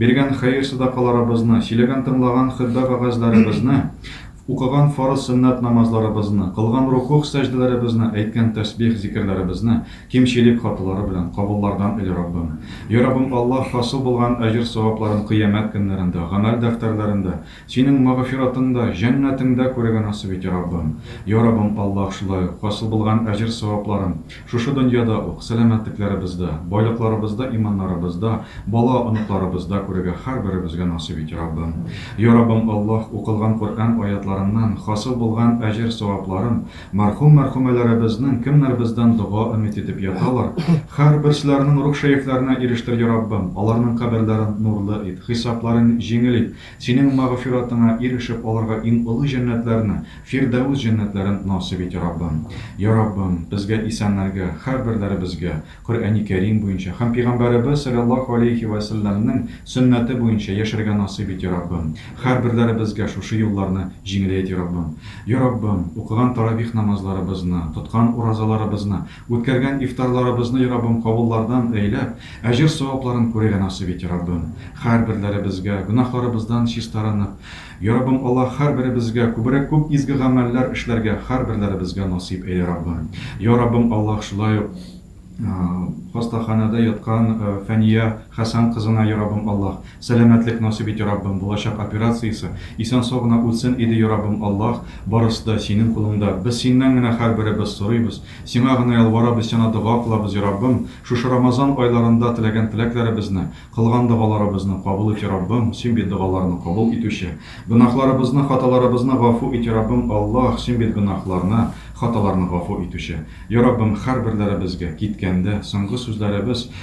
Биргән хәер-садакаларыбызны, сөйләгән-тыңлаган хөтбә вәгазьләребезне, укыган фарыз-сөннәт намазларыбызны, кылган рукугъ-сәҗдәләребезне, әйткән тәсбих-зикерләребезне кимчелек хаталары белән кабуллардан ил, Раббым! Йа Раббым Аллаһ, хасил булган әҗер-савапларын кыямәт көннәрендә, гамәл дәфтәрләрендә, Синең магъфиратыңда, җәннәтеңдә күрергә насыйп ит, Йа Раббым! Йа Раббым Аллаһ, шулай ук, хасил булган әҗер-савапларын, Шушы дөньяда ук, сәламәтлекләребездә, байлыкларыбызда, иманнарыбызда, бала, оныкларыбызда күрергә һәрберебезгә насыйп ит, Раббым. Я Раббым Аллаһ, укылган Коръән аятьларыннан хасил булган әҗер-савапларын, мәрхүм-мәрхүмәләребезнең кемнәр бездән дога өмет итеп яталар, һәрберселәрнең рух-шәефләренә ирештер, Я Раббым, аларның каберләрен нурлы ит, хисапларын җиңел ит, Синең мәгъфиратыңа ирешеп алырга иң олы җәннәтләрне, Фирдәвес җәннәтләрен насыйп ит, Раббым. Йа Раббым, безгә, исәннәргә, һәрберләребезгә, Коръәни Кәрим буенча һәм Пигамбәребез салләллаһу алейһи вә сәлләмнең сөннәте буенча яшәргә насыйп ит, Йа Раббым. Һәрберләребезгә шушы юлларны җиңеләйт, Йа Раббым. Йа Раббым, укыган таравих намазларыбызны, тоткан уразаларыбызны, Үткәргән ифтарларыбызны Раббым кабуллардан әйләп, әҗер-савапларын күрергә насыйп ите, Раббым. Хәрберләребезгә, гөнаһларыбыздан чистарынып, я Раббым Аллаһ, хәрберебезгә күбрәк күп изге гамәлләр эшләргә хәрберләребезгә насыйп әйлә, Раббым. Я Раббым Аллаһ, шулай ук хастаханәдә яткан Фәния Хәсән кызына, я Раббым Аллаһ, Сәламәтлек насыйп ите Раббым, булачак операциясе, исән сау гына үтсен иде Яраббым Аллаһ, барысы да синең кулыңда, без синнән генә хәрберебез сорыйбыз, сиңа гына ялварабыз сиана дога кылабыз Яраббым, шушы Рамазан айларында теләгән теләкләребезне, кылган догаларыбызны кабул ит Яраббым, син бит догаларны кабул итүче, гөнаһларыбызны, хаталарыбызны гафу ит Яраббым Аллаһ, син бит гөнаһларны, хаталарны гафу итүче. Яраббым хәрберләребезгә, киткәндә, соңгы сүзләребез,